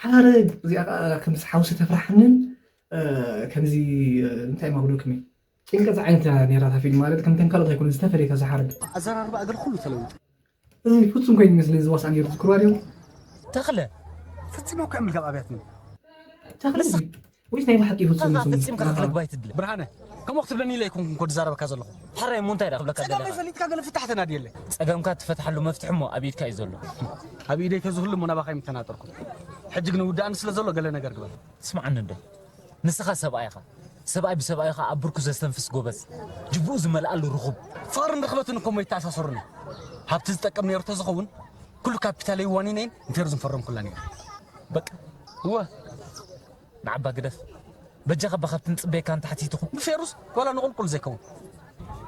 ሓረግ እዚኣ ከዓ ከምዚ ሓውሲ ተፍራሕንን ከምዚ እንታይ ማጉዶክሚ ጭንቀት ዓይነት ነራ እታ ፊልም ማለት ከምተን ካልኦት ኣይኮነ ዝተፈለየ ካብዚ ሓረግ ኣዘራርባ እግር ኩሉ ተለዊጡ እዚ ፍፁም ኮይኑ ይመስለኒ ዝዋስኣ ነይሩ ዝክርዋ ድዮም ተኽለ ፍፅም እኮ ዕምልጋብ ኣብያትኒ ተኽለ ወይስ ናይ ብሓቂ እዩ ፍጹም ኢልኩም? ፈጺምካ ክትልግባ ኣይትድለ ብርሃነ ከምኡ ክትብለኒ ኢለ ኣይኮንኩን ኮ ዝዛረበካ ዘለኹ ሕራይ እሞ እንታይ ድኣ ክብለካ ደሊኻ ጸገመይ ፈሊጥካ ገለ ፍታሕ ተናድየለይ ጸገምካ እትፈትሓሉ መፍትሒ እሞ ኣብ ኢድካ እዩ ዘሎ ኣብ ኢደይ ተዝህሉ እሞ ናባኻ ኣይምተናጠርኩን ሕጂ ግን ውድኣኒ ስለ ዘሎ ገለ ነገር ግበር ስምዓኒ እንዶ ንስኻ ሰብኣይ ኢኻ ሰብኣይ ብሰብኣዩ ኸኣ ኣብ ብርኩ ዘስተንፍስ ጎበዝ ጅብኡ ዝመልኣሉ ርኹብ ፍቕርን ርኽበትን እኮ እሞ ይተኣሳሰሩኒ ሃብቲ ዝጠቅም ነይሩ ተዝኸውን ኩሉ ካፒታለይ ዋኒነይን ንቴሩ ዝፈረምኩላን እያ በቃ እወ ንዓባ ግደፍ በጃኻ እባ ካብቲ ንጽበየካ ንታሕቲ ትኹን ንፌሩስ ዋላ ንቑልቁል ዘይከውን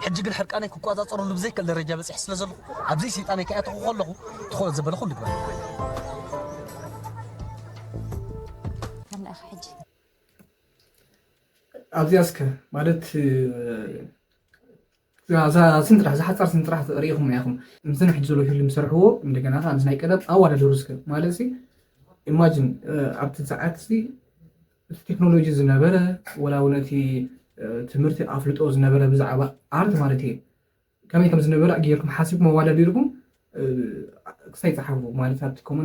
ሕጂ ግን ሕርቃነይ ክቆጻጸረሉ ብዘይክእል ደረጃ በጺሐ ስለ ዘለኹ ኣብዘይ ስልጣነይ ከይኣተኹ ከለኹ ትኾ ዘበለኹ ልግበር ኣብዚኣስከ ማለት እዛ ስም ጥራሕ እዛ ሓጻር ስም ጥራሕ ርኢኹምና ኢኹም። ምስዚ ናይ ሕጂ ዘሎ ፊልም ዝሰርሕዎ እንደገና ከኣ ምስ ናይ ቀደም ኣወዳድሩ እስከ ማለትሲ ኢማጂን ኣብቲ ሰዓትሲ እቲ ቴክኖሎጂ ዝነበረ ወላ እውን እቲ ትምህርቲ ኣፍልጦ ዝነበረ ብዛዕባ ኣርት ማለት እዩ ከመይ ከም ዝነበረ ጌርኩም ሓሲብኩም ኣወዳዲርኩም ክሳይ ጸሓፉ ማለት ኣብቲ ኮመንት